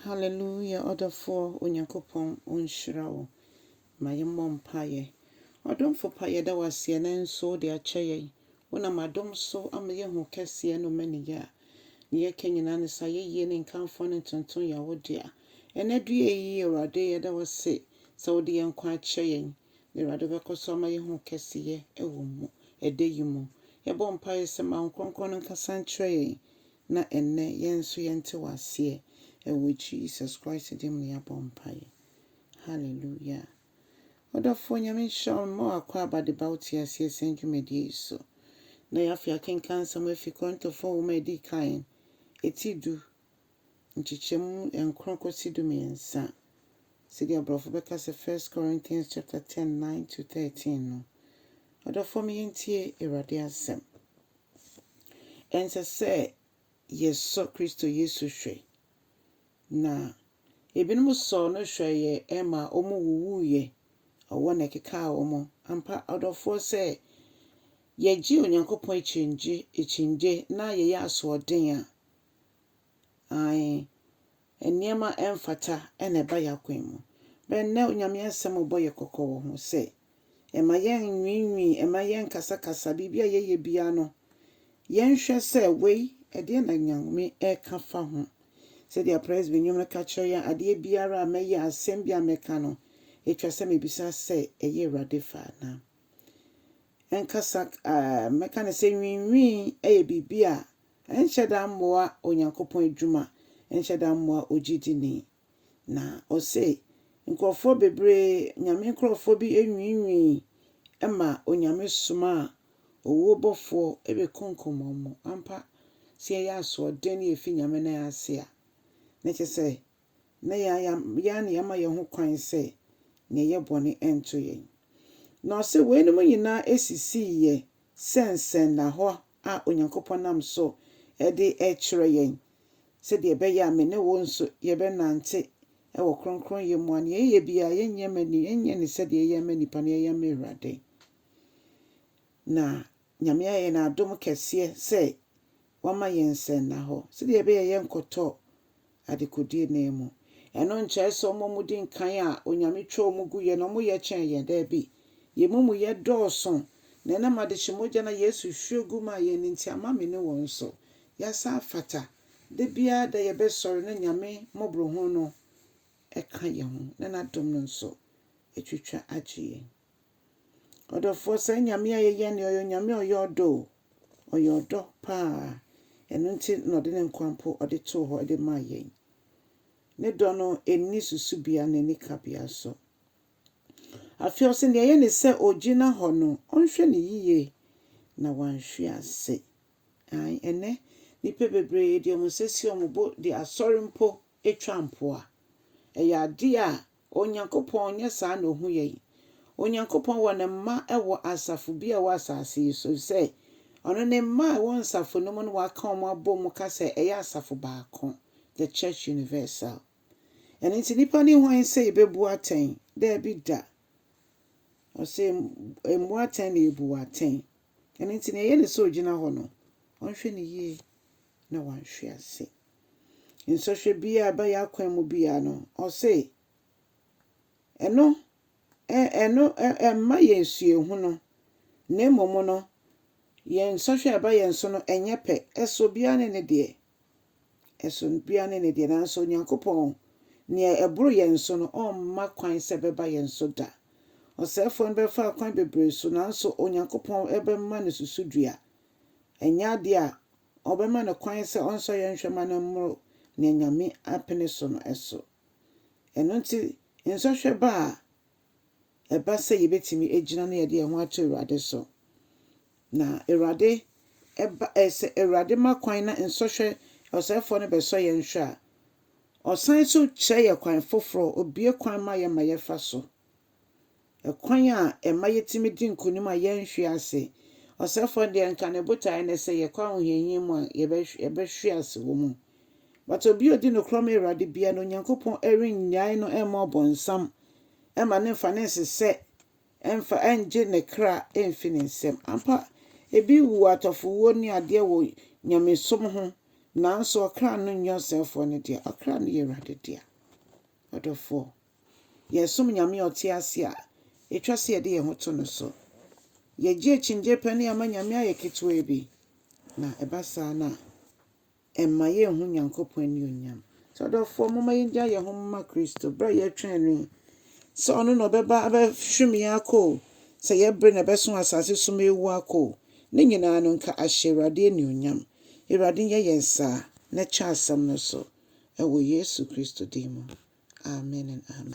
Hallelujah ɔdɔfoɔ Onyankopɔn ɔnhyira wo. Ma yɛmmɔ mpaeɛ. Ɔdomfo pa yɛda wo aseɛ nanso wode akyɛ yɛn. Wonam adom so ama yɛahu wo kɛseɛ ne wo maniyɛ a deɛ yɛka nyinaa ne sɛ ayɛyie ne nkamfoɔ ne ntontom yɛ wo dea. Ɛnnɛ due yi Awurade yɛda wo ase sɛ wode yɛn nkwa akyɛ yɛn na Awurade wobɛkɔ so ama yɛahu wo kɛseyɛ wɔ mu ɛda yi mu. Yɛbɔ mpaeɛ sɛ ma wo Kronkron no nkasa nkyerɛ yɛn na ɛnnɛ yɛn nso yɛnte wo aseɛ ɛwɔ Jesus Christ din mu na yɛabɔ mpaeɛ. Hallelujah. Ɔdɔfoɔ Nyame nhyira wo mma wo akwaaba de ba wo te aseɛ sɛn dwumadie yi so. Na yɛ afei akenkan nsɛm afi Korintofoɔ nwoma a ɛdi kan ɛti du nkyekyɛmu nkron kɔsi du mmiɛnsa, sɛdeɛ aborɔfo bɛka sɛ First Corinthians chapter ten nine to thirteen no. Ɔdɔfoɔ me yɛntie Awurade asɛm. Ɛnsɛ sɛ yɛsɔ Kristo Yesu hwɛ. Na ebinom sɔɔ no hwɛeɛ ma wɔwuwuiɛ, ɔwɔ na ɛkekaa wɔn. Ampa, ɔdɔfoɔ, sɛ yɛgye Onyankopɔn akyinnye akyinnye na yɛyɛ asoɔden a, aane, nneɛma a ɛmfata na ɛba yɛn akwan mu. Bere a nnɛ Onyame Asɛm rebɔ yɛn kɔkɔ wɔ ho sɛ, Mma yɛnnwiinwii, mma yɛnnkasakasa, biribi a yɛyɛ biara no, yɛnhwɛ sɛ wei, ɛdeɛn na Nyame reka fa ho. Sɛdeɛ Presby nnwom no ka kyerɛ yɛn, Adeɛ biara a mɛyɛ, asɛm biara a mɛka no, ɛtwa sɛ mebisa sɛ, ɛyɛ Awurade fɛ anaa? Ɛnkasa, mɛka no sɛ nwiinwii yɛ biribi a Ɛnhyɛ da mmoa Onyankopɔn adwuma, ɛnhyɛ da mmoa ogyidini. Na ɔse nkurɔfoɔ bebree, Nyame nkurɔfoɔ bi nwiinwii ma Onyame somaa owuo bɔfoɔ bɛkunkum wɔn. Ampa, sɛ yɛyɛ asoɔden na yɛfi Nyame nan ase a, na kyerɛ sɛ na yɛn ara na yɛama yɛn ho kwan sɛ yɛnyɛ bɔne nto yɛn. Na ɔse, Weinom nyinaa sisiiɛ sɛ nsɛnnahɔ a Onyankopɔn nam so de rekyerɛ yɛn, sɛdeɛ ɛbɛyɛ a me ne wo nso yɛbɛnante wɔ kronkronyɛ mu, a nea yɛyɛ biara yɛnyɛ no sɛdeɛ yɛyɛ ma nnipa no, yɛyɛ ma Awurade. Na Nyame ayɛ no adom kɛseɛ sɛ wama yɛn nsɛnnahɔ sɛdeɛ ɛbɛyɛ yɛnkɔtɔ adekodie nan mu. Ɛno nkyɛrɛ sɛ wɔn a wɔdi nkan a Onyame twa wɔn guiɛ no wɔn yɛ kyɛn yɛn, daabi, yɛn mumuyɛ dɔɔso, na ɛnam adehye mogya no a Yesu hwier gu maa yɛn no nti ama me ne wɔn nso yɛasan afata, da biara da yɛbɛsɔre na Nyame mmɔborɔhunu no ka yɛn ho na N'adom no nso atwitwa agye yɛn. Ɔdɔfoɔ saa Nyame a yɛyɛ no ɔyɛ Onyame a ɔyɛ ɔdɔ o. Ɔyɛ ɔdɔ paa. Ɛno nti na ɔde ne nkwa mpo ɔde too hɔ de maa yɛn. Ne dɔ no ɛnni susubea na ɛnni kabea nso. Afei ɔse deɛ ɛyɛ ne sɛ ɔgyina hɔ no ɔnhwɛ no yie na wanhwe ase. Ae ɛnɛ nnipa bebree de wɔn nsa si wɔn bo de asɔre mpo twa mpo a, ɛyɛ adeɛ a Onyankopɔn nyɛ saa na ɔhu yɛn. Onyankopɔn wɔ ne mma wɔ asafo bi a ɛwɔ asase yi so, efisɛ ɔno ne mma a ɛwɔ nsafo no mu no waka wɔn abom ka sɛ ɛyɛ asafo baako, the church universal. Ɛno nti nnipa ne hwan sɛ yɛbɛbu atɛn? Daabi da. Ɔse mmu atɛn na yɛbu wo atɛn. Ɛno nti nea ɛyɛ ne sɛ ɔgyina hɔ no, ɔnhwɛ no yie. na wɔanhwe ase. Nsɔhwɛ biara a ɛba yɛn akwan mu biara no, ɔse ɛno, ɛ, ɛno, ɛ, ɛmma yɛn suahu no, na mmom no, yɛn nsɔhwɛ a ɛba yɛn so no, ɛnyɛ pɛ. Ɛsɔ obiara ne ne deɛ. Ɛsɔ obiara ne ne deɛ. Nanso Onyankopɔn, nea ɛboro yɛn so no, ɔmma kwan sɛ ɛbɛba yɛn so da. Ɔsɛefoɔ no bɛfa akwan bebree so, nanso Onyankopɔn bɛma no susudua Ɛnyɛ ade a wɔbɛma no kwan sɛ ɔnsɔ yɛn nhwɛ ma no mmoro nea Nyame apene so no so. Ɛno nti, nsɔhwɛ ba a, ɛba sɛ yebetumi agyina na yɛde yɛn ho ato Awurade so. Na Awurade ba ɛ sɛ Awurade ma kwan na nsɔhwɛ ɔsɛefoɔ no bɛsɔ yɛn nhwɛ a, ɔsan so kyerɛ yɛn kwan foforɔ, obue kwan ma yɛn ma yɛfa so. Kwan a ɛma yetumi di nkonim a yɛrenhwe ase. Ɔsɛefo no deɛ, anka ne botae ne sɛ yɛkɔ ahohiahia mu a, yɛbɛhwe ase wɔ mu. But obi a odi nokorɛ ma Awurade biara no, Onyankopɔn rennyae no mma ɔbonsam, mma no mfa ne nsesɛ mfa ngye ne kra mfi ne nsam. Ampa, ebi wu atɔfowuo ne adeɛ wɔ nyamesom ho, nanso ɔkra no nyɛ ɔsɛefoɔ no dea, ɔkra no yɛ Awurade dea. Ɔdɔfoɔ. Yɛsom Nyame a ɔte ase a, etwa sɛ yɛde yɛn ho to no so. Yegye akyinnye pɛ ne ama Nyame ayɛ ketewaa bi, na ɛba saa no a, ɛmma yenhu Nyankopɔn anuonyam. Nti ɔdɔfoɔ, momma yengyae yɛn ho mma Kristo bere a yɛretwɛn no yi, sɛ ɔno na ɔbɛba abɛhwim yɛn akɔ o, sɛ yɛn bere na ɛbɛso asase so ma awu akɔ o, ne nyinaa no nka ahyɛ Awurade anuonyam. Awurade nyɛ yɛn saa na kyɛ asɛm no so wɔ Yesu Kristo din mu, amen and amen.